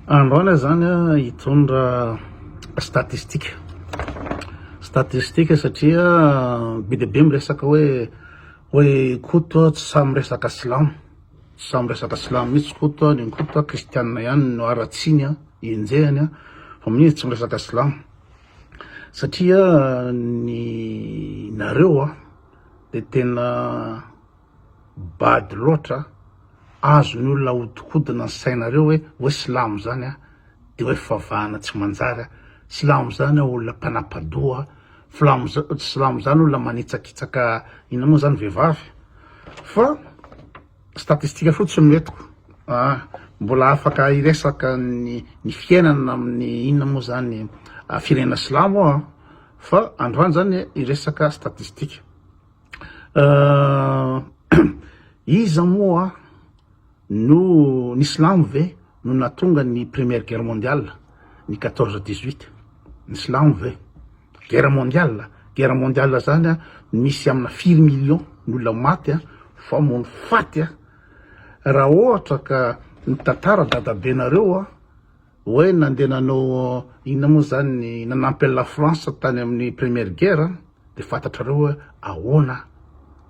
Andro any zany hitondra statistika, statistika satria be dia be miresaka hoe hoe Koto tsy sahy miresaka silamo, tsy sahy miresaka silamo mihintsy Koto an, neny Koto an kristianina ihany no haratsiny an, enjehiny an, fa mihintsy izy tsy miresaka silamo, satria ny nareo an dia tena. Bado loatra a! Azon ny olona ahodikodina ny sainareo hoe hoe silamo zany a! de hoe fivavahana tsy manjary a! Silamo zany a olona mpanapadoha a! Flamo silamo zany olona manitsakitsaka inona moa zany vehivavy a! Fa statistika fotsiny no entiko a! Mbola afaka hiresaka ny ny fiainana amin'ny inona moa zany firenena silamo aho a! Fa androany zany hiresaka statistika. Iza moa no, ny silamo ve no nahatonga ny première guerre mondiale, ny quatorze dix-huit? Ny silamo ve? Guerre mondiale, guerre mondiale zany a misy amina firy millions ny olona maty a, famono faty a, raha ohatra ka mitantara dadabenareo a, Oe nandeha nanao inona moa zany ny nanampy an'i la France tany amin'ny première guerre de fantatrareo oe ahoana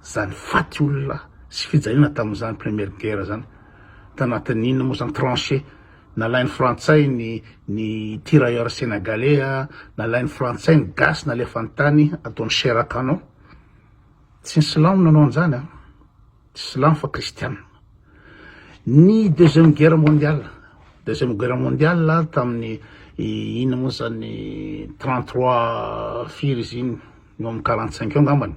zany faty olona sy fijaliana tamin'izany première guerre zany tanatin'ny inona moa zany tranchée nalain'ny frantsay ny ny tirailleurs senegalais nalain'ny frantsay ny gasy nalefany tany ataony chair à canon Tsy ny silamo no nanao an'izany an! Tsy silamo fa kristiana. Ny deuxième guerre mondiale, deuxième guerre mondiale tamin'ny inona moa izany trente trois firy izy iny, eo amin'ny quarante cinq eo angambany.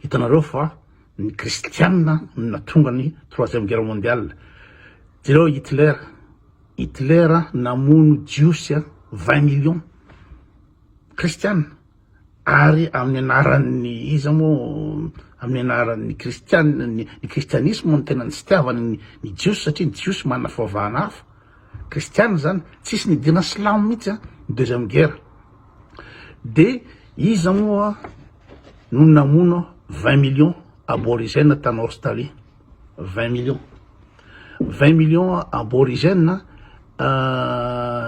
Hitanareo fa ny kristiana no nahatonga ny troisième guerre mondiale. Jereo Hitler, Hitler namono jiosy vingt millions kristiana. ary amin'ny anaran'ny iza moa amin'ny anaran'ny kristianina ny kristianisma no tena nitsitiavany ny jiosy satria ny jiosy manana fivavahana hafa kristianina zany tsisy nidirana silamo mihitsy a ny deuxième guerre de iza moa no namono vingt millions aborigène tany Australie vingt millions vingt millions aborigène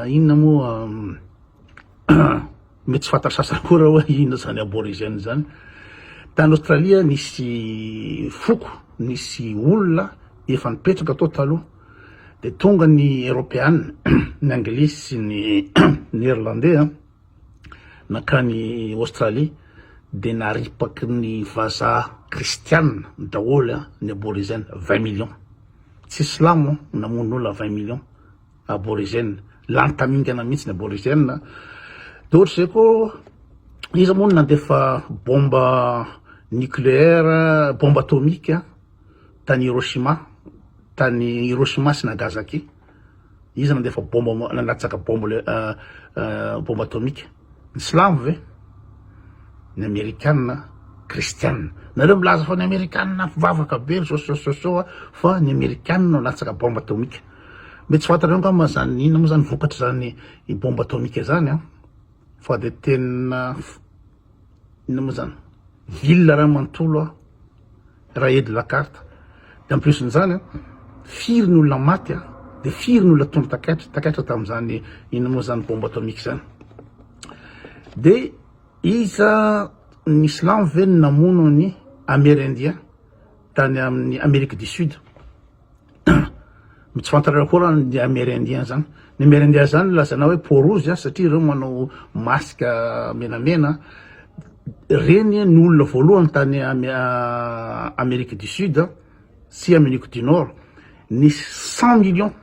inona moa Mety tsy fantan'ny sasany koa raha hoe inona izany aborigène izany. Tany Aostralia nisy foko, nisy olona efa nipetraka tao taloha, dia tonga ny Eropeana, ny Anglisy sy ny Neerlandey nankany Aostralia, dia naripaky ny vazaha kristiana daholo ny aborigène, vingt millions, tsy silamo namono olona vingt millions. Aborigène. Lany tamingana mihitsy ny aborigène. Dia ohatra izay koa, iza moa no nandefa bomba nucléaire, bomba atomique tany Hiroshima, tany Hiroshima sy Nagasaki? Iza nandefa bomba, nalatsaka bomba, bomba atomique? Ny silamo ve? Ny amerikanina kristianina? Nareo milaza fa ny amerikanina mpivavaka be ry sosososo a, fa ny amerikanina no latsaka bombe atomika. Mety tsy fantatrareo angamba izany inona moa izany vokatr'izany bombe atomika izany a, fa dia tena inona moa izany ville raha manontolo a, Raha aide la carte de en plus n'izany firy ny olona maty a! de firy ny olona tonga takaitra takaitra tamin'izany inona moa zany bombe atomique zany de iza ny silamo ve no namono an'i Amerindien tany amin'ny Amerique du Sud? Tsy fantatrareo akory an ny Amerindiens zany. Ny Amerindiens zany no lazaina hoe peau rouge an, satria ireo manao masque menamena an. Ireny an no olona voalohany tany Amerique du Sud sy Amerique du Nord nisy cent millions.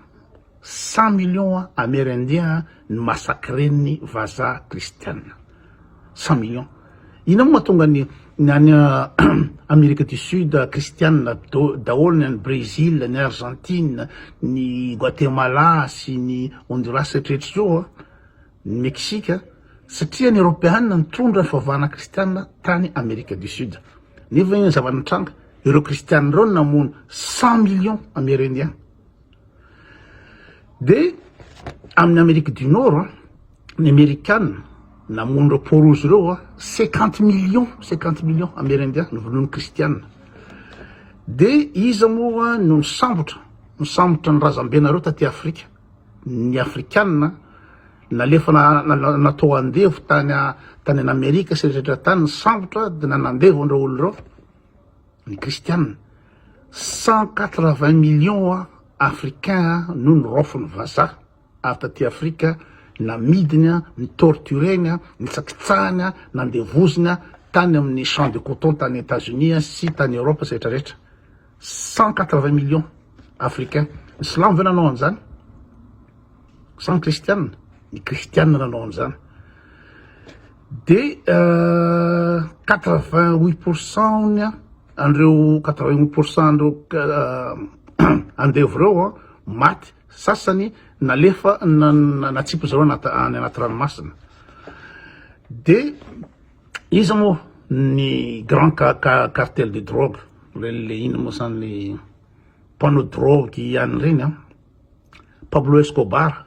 Cent millions Amerindiens ny massacren'ny vazaha kristiana. Cent millions. Inona moa mahatonga ny ny any Amerika du Sud kristiana daholo, ny any Brezila, ny Arzantina, ny Goatemala sy ny Honduras hatreto zao, ny Meksika? Satria ny Eropeana nitondra ny fivavahana kristiana tany Amerika du Sud. Nefa inona ny zava-nitranga? Ireo kristiana ireo no namono cent millions Amerindiens. Dia amin'ny Amerique du Nord an, ny Amerikana namono ireo peau rouge ireo an, cinquante millions, cinquante millions Amerindia novonoin'ny Kristiana. Dia iza moa no nisambotra, nisambotra ny razambenareo taty Afrika? Ny Afrikana nalefa na- na- na- natao andevo tany a- tany an'Amerika sy ny rehetra tany, nisambotra dia nanandevo an'ireo olona ireo. ny kristiana, cent quatre vingt millions africains no noraofin'ny vazaha avy taty Afrika, namidiny, ni-tortureny, nitsakitsahiny, nandevoziny tany amin'ny champs de coton tany Etats-Unis sy tany Europe sy rehetra rehetra, cent quatre vingt millions africains, ny silamo ve nanao an'izany? sa ny kristiana? ny kristiana nanao an'izany. Dia quatre vingt huit pour cent an'ireo quatre vingt huit pour cent an'ireo andevo ireo maty, sasany nalefa natsipy zareo any anaty ranomasina. Dia iza moa ny grand cartel de drogue, le inona moa zany le mpanao drogue ihany ireny an, Pablo Escobar,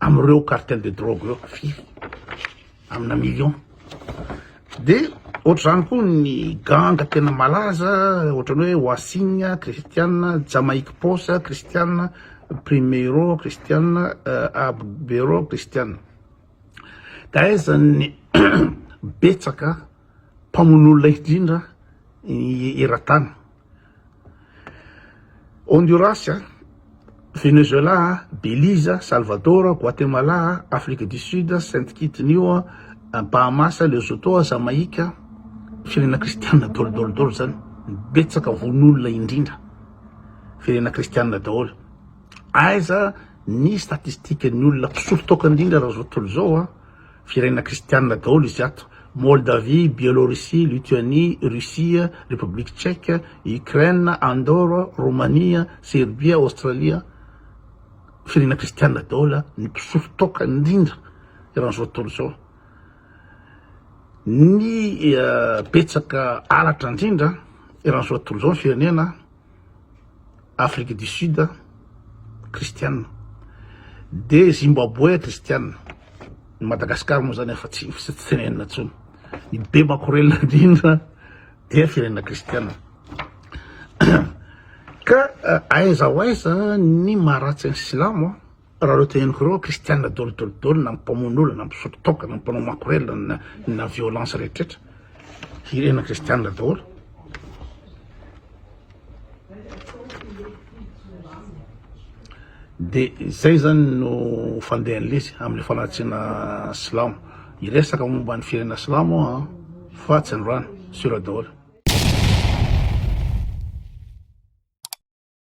amin'ireo cartel de drogue ireo firy amina million de ohatr'izany koa ny ganga tena malaza ohatran'ny hoe Wasing Christiana Jamaique Posa Christiana Primeiro Christiana euh, Abero Christiana ka aizan'ny betsaka mpamono olona indrindra eran-tany Honduras, Venezuela, Belize, Salvador, Guatemala, Afrique du Sud, Sainte Kitty New, Bahamas, Lesotho, Jamaïque, firenena kristianina dolo dolo dolo zany, betsaka vonoolona indrindra, firenena kristianina daholo. Aiza ny statistique ny olona mpisolo toaka indrindra raha zao tontolo zao a? Firenena kristianina daholo izy ato, Moldavie, Bielorussie, Lituanie, Russie, République Tchèque, Ukraine, Andorre, Romania, Serbia, Australia, firenena kristianina daholo ny mpisolo toaka indrindra eran'izao tontolo izao. Ny eh, betsaka halatra indrindra eran'izao tontolo izao ny firenena Afrique du Sud kristiana, de Zimbaboe kristiana, ny Madagascar moa zany efa tsy tsy tenenina intsony, ny be makorelina indrindra dia firenena kristiana, ka aiza ho aiza ny maharatsy ny silamo an. Raha ireo teneniko ireo, kristiana dolidolidolo na mpamono olona na mpisotro toaka na mpanao makorelina na na violence rehetraretra, hirena kristiana daholo. Dia izay zany no fandehan'ilay izy amin'ny fanatsiana silamo. Hiresaka momba ny firenena silamo aho an, fa tsy androany, sura daholo.